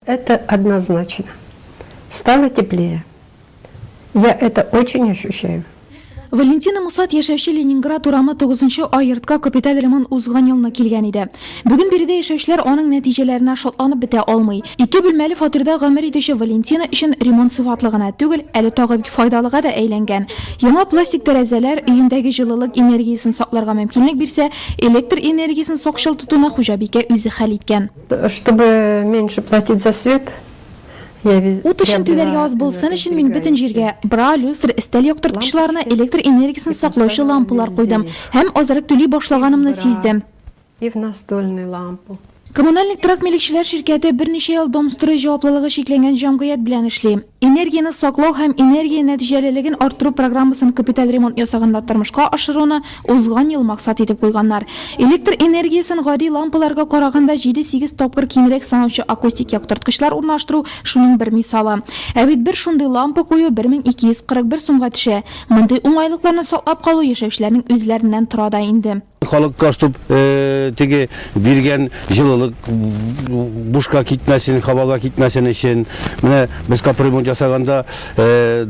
Это однозначно. Стало теплее. Я это очень ощущаю. Валентина Мусат яшәүче Ленинград урамы тугызынчы а йортка капиталь ремонт узган елны килгән иде. Бүген биредә яшәүчеләр аның нәтиҗәләренә шатланып бетә алмый. Ике бүлмәле фатирда гомер итүче Валентина өчен ремонт сыйфатлы гына түгел, әле тагы бик файдалыга да әйләнгән. Яңа пластик тәрәзәләр өендәге җылылык энергиясен сакларга мөмкинлек бирсә, электр энергиясен сакчыл тотуны хуҗабикә үзе хәл иткән. Чтобы меньше платить за свет, Ут өчен түләргә аз булсын өчен мин бөтен җиргә бра, люстр, өстәл яктырткычларына электр энергиясен саклаучы лампалар куйдым һәм азрак түли башлаганымны сиздем. Коммунальник торак милекчеләр ширкәте берничә ел Домстрой җаваплылыгы чикләнгән җәмгыять белән эшли. Энергияне саклау һәм энергия нәтиҗәлелеген арттыру программасын капиталь ремонт ясаганда тормышка ашыруны узган ел максат итеп куйганнар. Электр энергиясен гади лампаларга караганда җиде-сигез тапкыр кимрәк санаучы акустик яктырткычлар урнаштыру шуның бер мисалы. Ә бит бер шундый лампа кую бер мең ике йөз кырык бер сумга төшә. Мондый уңайлыкларны саклап калу яшәүчеләрнең үзләреннән тора да инде. Халык каш туп теге биргән җылылык бушка китмәсен, һавага китмәсен өчен. Менә без капремонт ясаганда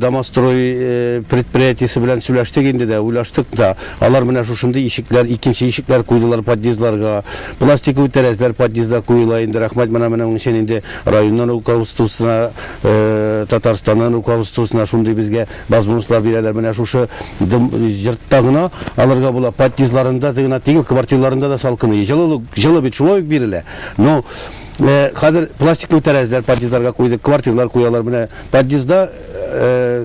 Домострой предприятиесе белән сөйләштек инде дә, уйлаштык та. Алар менә шушындый ишекләр, икенче ишекләр куйдылар подъездларга. Пластиковый тәрәзәләр подъездда куела инде, рәхмәт менә моның өчен инде районнан руководствосына, Татарстаннан руководствосына шундый безгә Базбунслар бирәләр менә шушы дым җыртта гына алырга була подъездларында гына тигел квартирларында да салкыный җылылык җылы бит шулай ук бирелә но хәзер пластиклы тәрәзләр подъездларга куйдык квартирлар куялар менә подъезда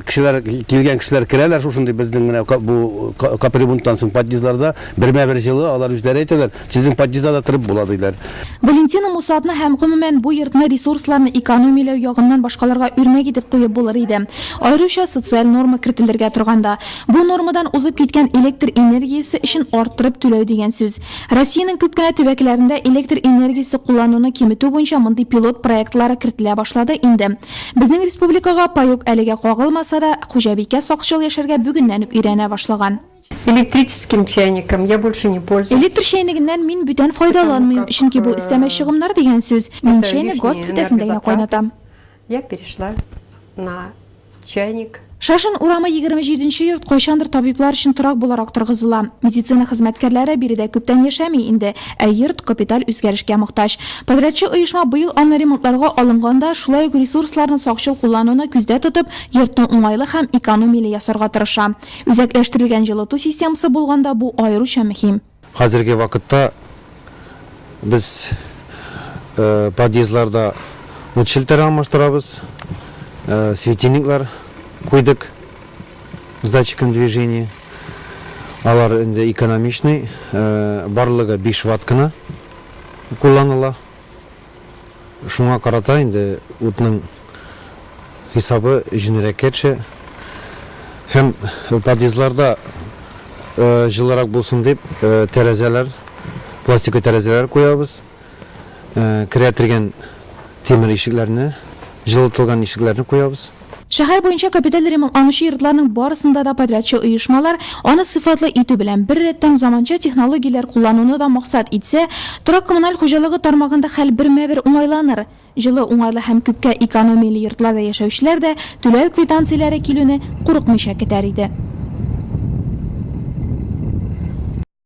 кешеләр килгән кешеләр керәләр шушындый безнең менә бу капремонттан соң подъездларда бермә бер җылы алар үзләре әйтәләр Сезнең подъездда да торып була, диләр. Валентина Мусатны һәм, гомумән, бу йортны ресурсларны экономияләү ягыннан башкаларга үрнәк итеп куеп булыр иде. Аеруча социаль норма кертелергә торганда. Бу нормадан узып киткән электр энергиясе өчен арттырып түләү дигән сүз. Россиянең күп кенә төбәкләрендә электр энергиясе куллануны киметү буенча мондый пилот проектлары кертелә башлады инде. Безнең республикага паек әлегә кагылмаса да, хуҗабикә сакчыл яшәргә бүгеннән үк өйрәнә башлаган. Электрическим чайником я больше не пользуюсь. Электр чәйнегеннән мин бүтән файдаланмыйм, чөнки бу өстәмә чыгымнар дигән сүз. Мин чәйне газ плитәсендә генә кайнатам. Я перешла на чайник. Шашин урамы егерме җиденче йорт кайчандыр табиблар өчен торак буларак торгызыла. Медицина хезмәткәрләре биредә күптән яшәми инде, ә йорт капиталь үзгәрешкә мохтаҗ. Подрядчы оешма быел аны ремонтларга алынганда, шулай ук ресурсларны сакчыл куллануны күздә тотып, йортны уңайлы һәм экономияле ясарга тырыша. Үзәкләштерелгән җылыту системасы булганда бу аеруча мөһим. Хәзерге вакытта без подъездларда ут челтәре алмаштырабыз, светильниклар куйдык с датчиком движения. Алар инде экономичный, барлыгы биш ватт кына кулланыла. Шуңа карата инде утның хисабы җенерәк кәтшә һәм подъездларда җылырак булсын дип тәрәзәләр, пластика тәрәзәләр куябыз. Керә тиргән тимер ишекләрне, җылытылган ишекләрне куябыз. Шәһәр буенча капиталь ремонт ланучы йортларның барысында да подрядчы оешмалар, аны сыйфатлы итү белән бер рәттән, заманча технологияләр куллануны да максат итсә, торак-коммуналь хуҗалыгы тармагында хәл бермә-бер уңайланыр. Җылы, уңайлы һәм күпкә экономияле йортларда яшәүчеләр дә түләү квитанцияләре килүне курыкмыйча көтәр иде.